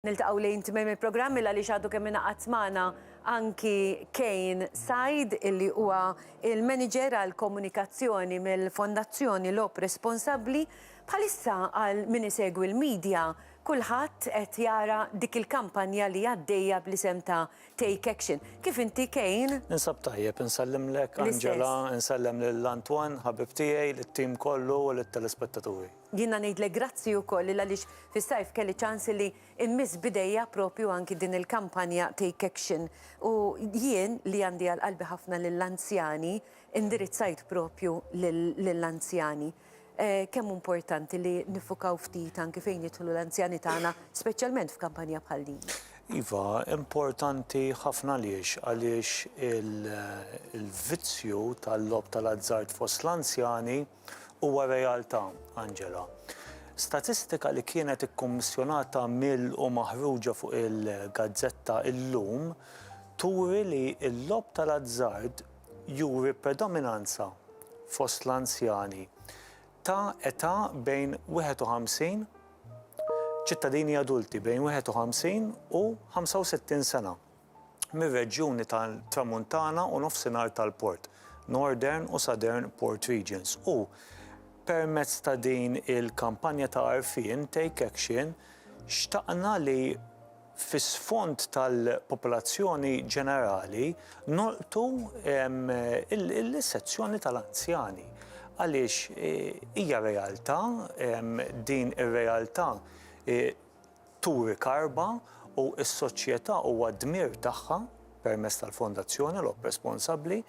Niltaqgħu lejn tmiem il-programm il għaliex għadu kemm ingħaqad magħna anki Kane Said illi huwa il-Manager għall-Komunikazzjoni mill-Fondazzjoni Logħob Responsabbli. Bħalissa għal min isegwi l-media kulħadd qed jara dik il-kampanja li għaddejja bl-isem ta' Take Action. Kif inti Kane? Ninsab tajjeb, insellimlek Angela, insellem lil Antoine ħabib tiegħi, lit-team kollu u lit-telespettaturi. Jiena ngħidlek grazzi wkoll il għaliex fis-sajf kelli ċans illi immiss b'idejja propju anki din il-kampanja Take Action u jien li għandi għal qalbi ħafna lill-anzjani indirizzajt propju lill-anzjani kemm hu importanti li niffukaw ftit anki fejn jidħlu l-anzjani tagħna speċjalment f'kampanja bħal din. Iva, importanti ħafna għaliex? Għaliex il-vizzju tal-logħob tal-azzard fost l-anzjani, Huwa realtà, Angela. Statistika li kienet ikkummissjonata mill u maħruġa fuq il-gazzetta illum turi li l-logħob tal-azzard juri predominanza fost l-anzjani ta' età bejn 51, ċittadini adulti bejn 51 u 65 sena. mir-reġjuni tat-Tramuntana u Nofsinhar tal-Port, Northern u Southern Port Regions, u, permezz ta' din il-kampanja ta' għarfien, Take Action, xtaqna li, fi sfond tal-popolazzjoni ġenerali, nolqtu l-sezzjoni tal-anzjani, għaliex hija realtà, din ir-realtà Turi Karba u s-Soċjetà huwa d-dmir tagħha, permezz tal-Fondazzjoni Logħob Responsabbli,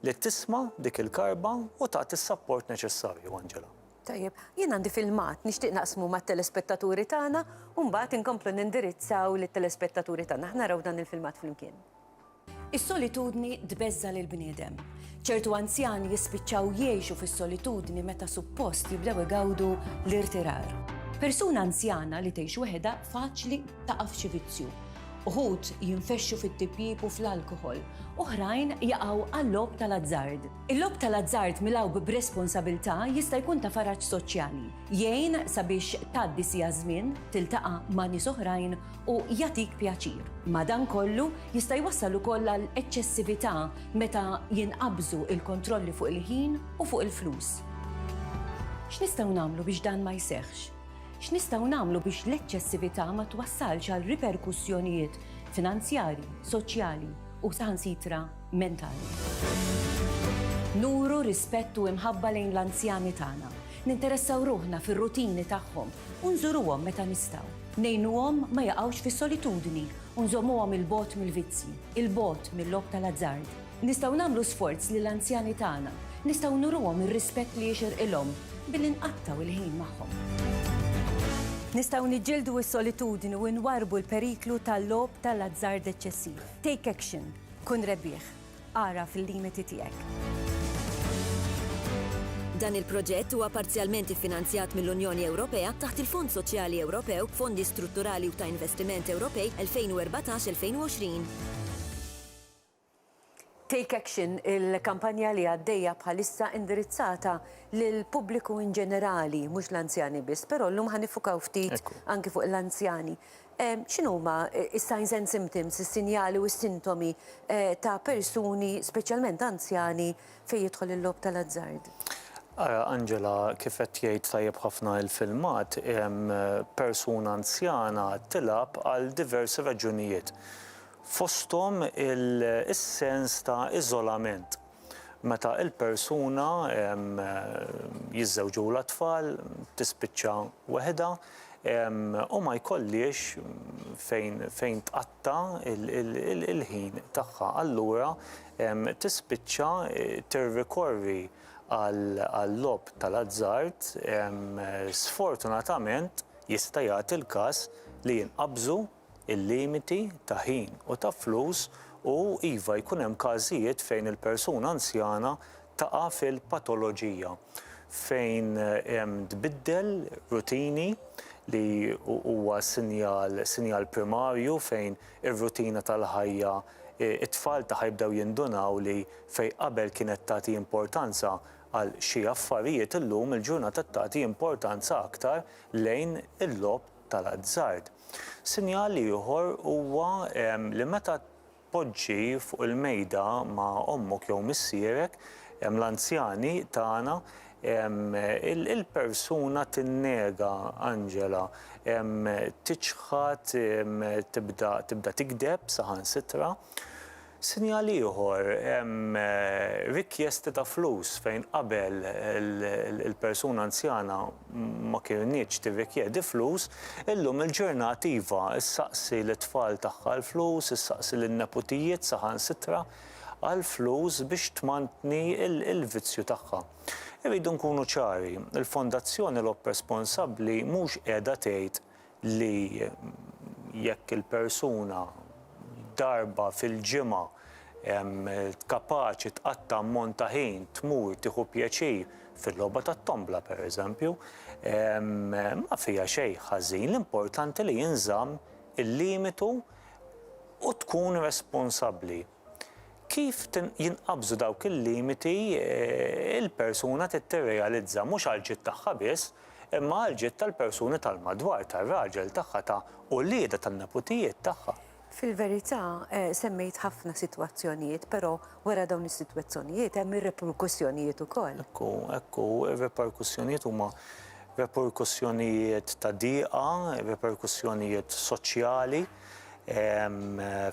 li tisma' dik il-karba u tagħti s-sapport neċessarju, Angela. Tajjeb. Jien għandi filmat, nixtieq naqsmu mat-telespettaturi tagħna u mbagħad inkomplu nindirizzaw lit-telespettaturi tagħna. Ħa naraw dan il-filmat flimkien. Is-solitudni tbeżża' lill-bniedem. Ċertu anzjani jispiċċaw jgħixu fis-solitudni meta suppost jibdew igawdu l-irtirar. Persuna anzjana li tgħix weħedha faċli taqa' f'xi vizzju. Uħud jinfexxu fit-tipjip u fl-alkoħol, oħrajn jaqgħu għal-logħob tal-azzard. Il-logħob tal-azzard milgħub b'responsabilità jista' jkun ta' faraġ soċjali, jgħin sabiex tgħaddi siegħa żmien, tiltaqa' ma' nies oħrajn u jagħtik pjaċir. Madankollu, jista' jwassal ukoll għal eċċessività meta jinqabżu l-kontrolli fuq il-ħin u fuq il-flus. X'nistgħu nagħmlu biex dan ma jseħħx? X'nistgħu nagħmlu biex l-eċċessività ma twassalx għal riperkussjonijiet finanzjarji, soċjali u saħansitra mentali? Nuru rispett u imħabba lejn l-anzjani tagħna. Ninteressaw ruħna fir-rutini tagħhom u nżuruhom meta nistgħu. Ngħinuhom ma jaqgħux fis-solitudni u nżommuhom 'il bogħod mill-vizzji, 'il bogħod mil-logħob tal-azzard. Nistgħu nagħmlu sforz li l-anzjani tagħna, nistgħu nuruhom ir-rispett li jixirqilhom billi nqattgħu il-ħin magħhom. Nistgħu niġġieldu s-solitudni u nwarrbu l-periklu tal-logħob tal-azzard eċċessiv. Take action. Kun rebbieħ. Agħraf il-limiti tiegħek. Dan il-proġett huwa parzjalment iffinanzjat mill-Unjoni Ewropea taħt il-Fond Soċjali Ewropew, Fondi Strutturali u ta' Investiment Ewropej 2014-2020. Take Action, il-kampanja li għaddejja bħalissa indirizzata lill-pubbliku in ġenerali, mhux l-anzjani biss, però llum ħa niffukaw ftit anki fuq l-anzjani. X'inhuma s-signs and symptoms, is-sinjali u s-sintomi, ta' persuni, speċjalment anzjani, fejn jidħol il-logħob tal-azzard? Ara, Angela, kif qed jgħid tajjeb ħafna il-filmat, persuna anzjana tilgħab għal diversi raġunijiet, fosthom is-sens ta' iżolament. Meta l-persuna jiżżewġulha t-tfal, tispiċċa weħidha u ma jkollhiex fejn tqatta' l-ħin tagħha. Allura tispiċċa tirrikorri għal-logħob tal-azzard. Sfortunatament jista' jagħti l-każ li jinqabżu. il-limiti ta' ħin u ta' flus u, iva, jkun hemm każijiet fejn il-persuna anzjana taqa' fil-patoloġija, fejn tbiddel rutini li huwa sinjal sinjal primarju fejn ir-rutina tal-ħajja, it-tfal tagħha jibdew jindunaw li fejn qabel kienet tagħti importanza għal xi affarijiet illum il-ġurnata tagħti importanza aktar lejn il-logħob tal-azzard. Sinjal ieħor huwa li meta tpoġġi fuq il-mejda ma' ommok jew missierek, l-anzjani tagħna, il-persuna tinnega, Angela, tiċħad, tibda tigdeb saħansitra. Sinjal ieħor, hemm rikjesti ta' flus fejn qabel il-persuna anzjana ma kienitx tirrikjedi flus, illum il-ġurnat iva, issaqsi lit-tfal tagħha l-flus, issaqsi lin-neputijiet saħansitra għall-flus biex tmantni l-vizzju tagħha. Irridu nkunu ċari, il-Fondazzjoni Lobp Responsabbli mhux qiegħda tgħid li jekk il-persuna darba fil-ġimgħa kapaċi tqatta' ammont ta' ħin tmur tieħu pjaċir fil-logħba tat-tombla pereżempju, ma fiha xejn ħażin, l-importanti li jinżamm il-limitu u tkun responsabbli. Kif jinqabżu dawk il-limiti l-persuna trid tirrealizza mhux għall-ġid tagħha biss, imma għall-ġid tal-persuni tal-madwar, tar-raġel tagħha, ta' uliedha, tan-neputijiet tagħha. Fil-verità, semmejt ħafna sitwazzjonijiet, però wara dawn is-sitwazzjonijiet hemm ir-reperkussjonijiet ukoll. Hekk hu, hekk hu. Ir-reperkussjonijiet huma reperkussjonijiet ta' diqa, reperkussjonijiet soċjali.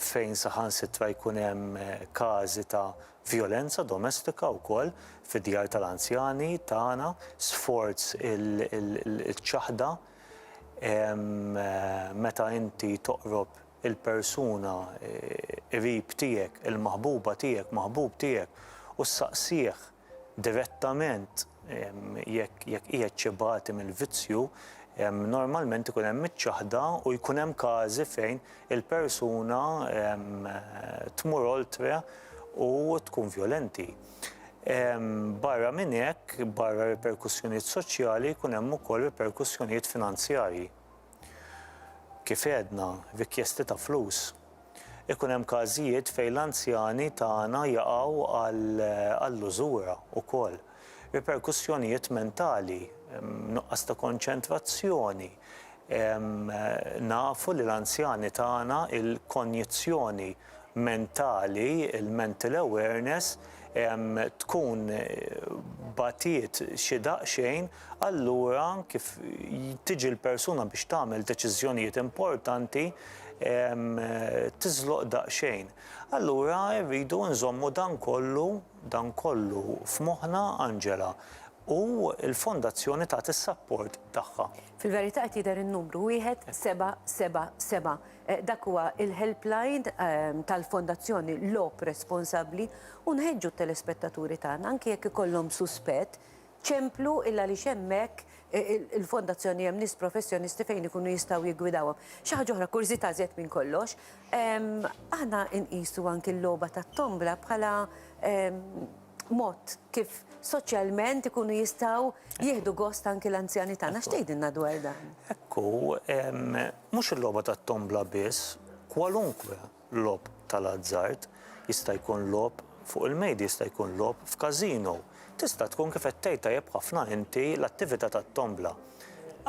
fejn saħansitra jkun hemm każi ta' vjolenza domestika wkoll fid-djar tal-anzjani tagħna, sforz il-ċaħda meta inti toqrob il-persuna qrib tiegħek, il-maħbuba tiegħek, maħbub tiegħek u ssaqsih, direttament jekk qiegħed xi bagħti mill-vizzju, normalment ikun hemm iċ-ċaħda u jkun hemm każi fejn il-persuna tmur oltre u tkun vjolenti. Barra minn hekk, barra riperkussjonijiet soċjali jkun hemm ukoll riperkussjonijiet finanzjarji. Kif għedna, rikjesti ta' flus. Ikun hemm każijiet fejn l-anzjani tagħna jaqgħu għall-użura wkoll. Riperkussjonijiet mentali, nuqqas ta' konċentrazzjoni, nafu li l-anzjani tagħna il-konjizzjoni, mentali, il-mental awareness, tkun bagħtiet xi daqsxejn, allura kif tiġi l-persuna biex tagħmel deċiżjonijiet importanti tiżloq daqsxejn. Allura rridu nżommu dan kollu, dan kollu f'moħħna, Angela, u l-Fondazzjoni tagħti s-sapport tagħha. Fil-verità qed jidher in-numru, wieħed seba' seba' seba'. Dak huwa il-helpline tal-Fondazzjoni Logħob Responsabbli u nħeġġu t-telespettaturi tagħna anki jekk ikollhom suspett, ċemplu il għaliex hemmhekk il-Fondazzjoni hemm nies professjonisti fejn ikunu jistgħu jiggwidawhom. Xi ħaġa oħra, kurżità żjed minn kollox, aħna nqisu anki l-logħba tat-tombla bħala mod kif soċjalment ikunu jistgħu jieħdu gost anki l-anzjani tagħna. X'tgħidilna dwar dan? Ekku, mhux il-logħba tat-tombla biss, kwalunkwe logħob tal-azzard jista' jkun logħob fuq il-mejda, jista' jkun logħob f'każino. Tista' tkun kif qed tgħid tajjeb ħafna inti l-attività tat-tombla.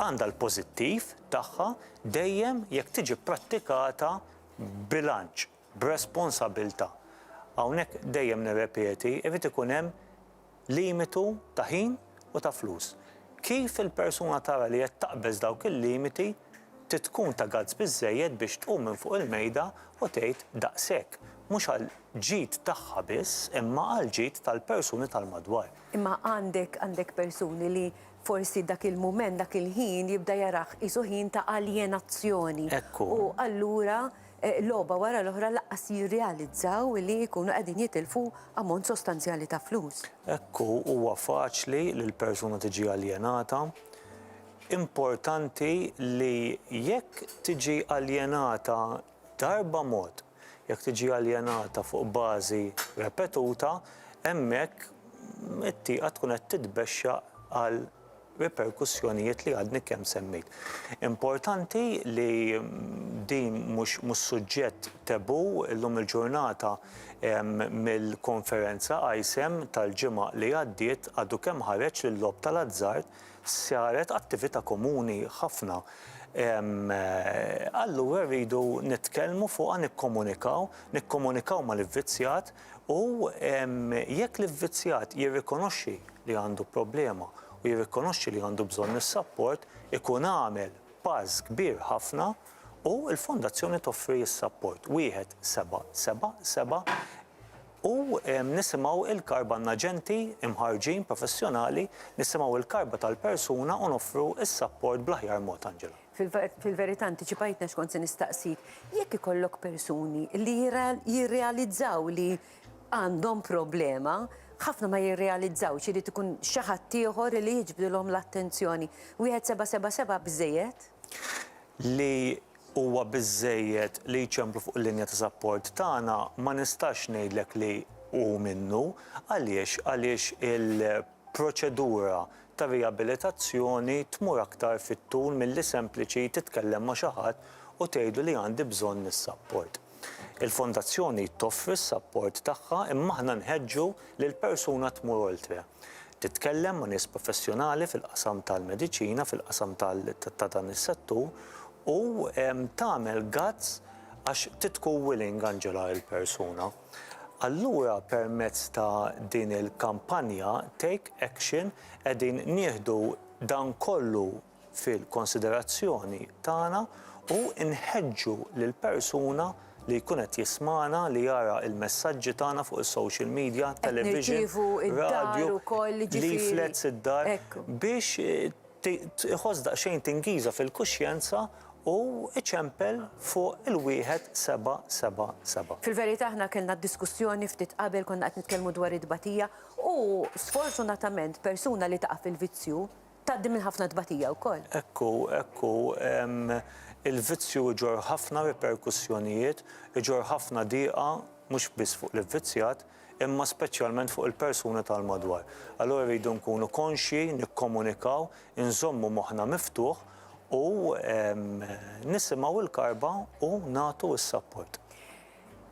Għandha l-pożittiv tagħha dejjem jekk tiġi pprattikata b'bilanċ. b'responsabilità. Hawnhekk dejjem nirrepeti, irid ikun hemm limitu ta' ħin u ta' flus. Kif il-persuna tara li qed taqbeż dawk il-limiti trid tkun ta' guts biżżejjed biex tqum minn fuq il-mejda u tgħid daqshekk, mhux għall-ġid tagħha biss imma għall-ġid tal-persuni tal-madwar. Imma għandek għandek persuni li forsi dak il-mument, dak il-ħin jibda jarah qisu ħin ta' aljenazzjoni. Hekk hu. U allura logħba wara l-oħra lanqas jirrealizzaw li jkunu qegħdin jitilfu ammont sostanzjali ta' flus. Hekk hu, huwa faċli li l-persuna tiġi aljenata. Importanti li jekk tiġi aljenata darba mod, jekk tiġi aljenata fuq bażi repetuta, hemmhekk it-tieqa tkun qed titbexxaq għal riperkussjonijiet li għadni kemm semmejt. Importanti li din mhux mhux suġġett taboo illum il-ġurnata mill-konferenza ISEM tal-ġimgħa li għaddiet għadu kemm ħareġ li l-logħob tal-azzard saret attività komuni ħafna. Allura rridu nitkellmu fuqha nikkomunikaw, nikkomunikaw mal-ivvizzjat U jekk l-ivvizzjat jirrikonoxxi li għandu problema u jirrikonoxxi li għandu bżonn is-sapport, ikun għamel pass kbir ħafna u l-Fondazzjoni toffri s-sapport. Wieħed seba' seba' seba' u nisimgħu l-karba n-aġenti mħarrġin professjonali, nisimgħu l-karba tal-persuna u noffru s-sapport bl-aħjar mod, Angela. Fil-verità antiċipajtni għax kont se nistaqsik, jekk ikollok persuni li jirrealizzaw li għandhom problema, ħafna ma jirrealizzawx, irid ikun xi ħadd ieħor li jiġbdilhom l-attenzjoni. Wieħed seba' seba' seba' biżżejjed? Li huwa biżżejjed li jċemplu fuq il-linja ta' sapport tagħna ma nistax ngħidlek li hu minnu. Għaliex? Għaliex il- proċedura ta' riabilitazzjoni tmur aktar fit-tul milli sempliċi titkellem ma' xi ħadd u tgħidlu li għandi bżonn is-sapport. Il-Fondazzjoni toffri s-sapport tagħha imma aħna nħeġġu li l-persuna tmur oltre. Titkellem ma' nies professjonali fil-qasam tal-mediċina, fil-qasam ta' dan is-settur u tagħmel guts għax titku willing, Angela, il-persuna. Allura permezz ta' din il-kampanja Take Action qegħdin nieħdu dan kollu fil-konsiderazzjoni tagħna u nħeġġu lil persuna li jkun qed jismagħna, li jara l-messaġġi tagħna fuq is-social media, television, radju, leaflets id-dar, biex iħoss daqsxejn tingiża fil-kuxjenza u iċempel fuq il-wieħed seba' seba' seba'. Fil-verità aħna kellna diskussjoni ftit qabel konna qed nitkellmu dwar it-tbatija u sfortunatament persuna li taqa' fil-vizzju tgħaddi minn ħafna tbatija wkoll. Hekk hu, hekk hu. Il-vizzju jġorr ħafna riperkussjonijiet, iġorr ħafna diqa mhux biss fuq l-ivvizzjat imma speċjalment fuq il-persuni tal-madwar. Allura rridu nkunu konxji, nikkomunikaw, inżommu moħħna miftuħ u nisimgħu l-karba u nagħtu s-sapport.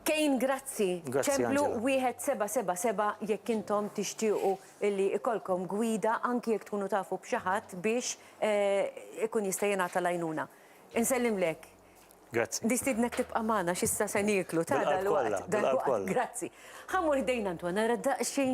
Kane grazzi. Grazzi Angela. Ċemplu 1777 jekk intom tixtiequ illi ikollkom gwida anki jekk tkunu tafu b'xi ħadd biex ikun jista' jingħata l-għajnuna. Insellimlek. Grazzi. Nistiednek tibqa' magħna x'issa se nieklu ta' dalwaqt. Bil-qalb kollha, bil-qalb kollha. Grazzi. Ħa mmur ħdejn Antoine nara daqsxejn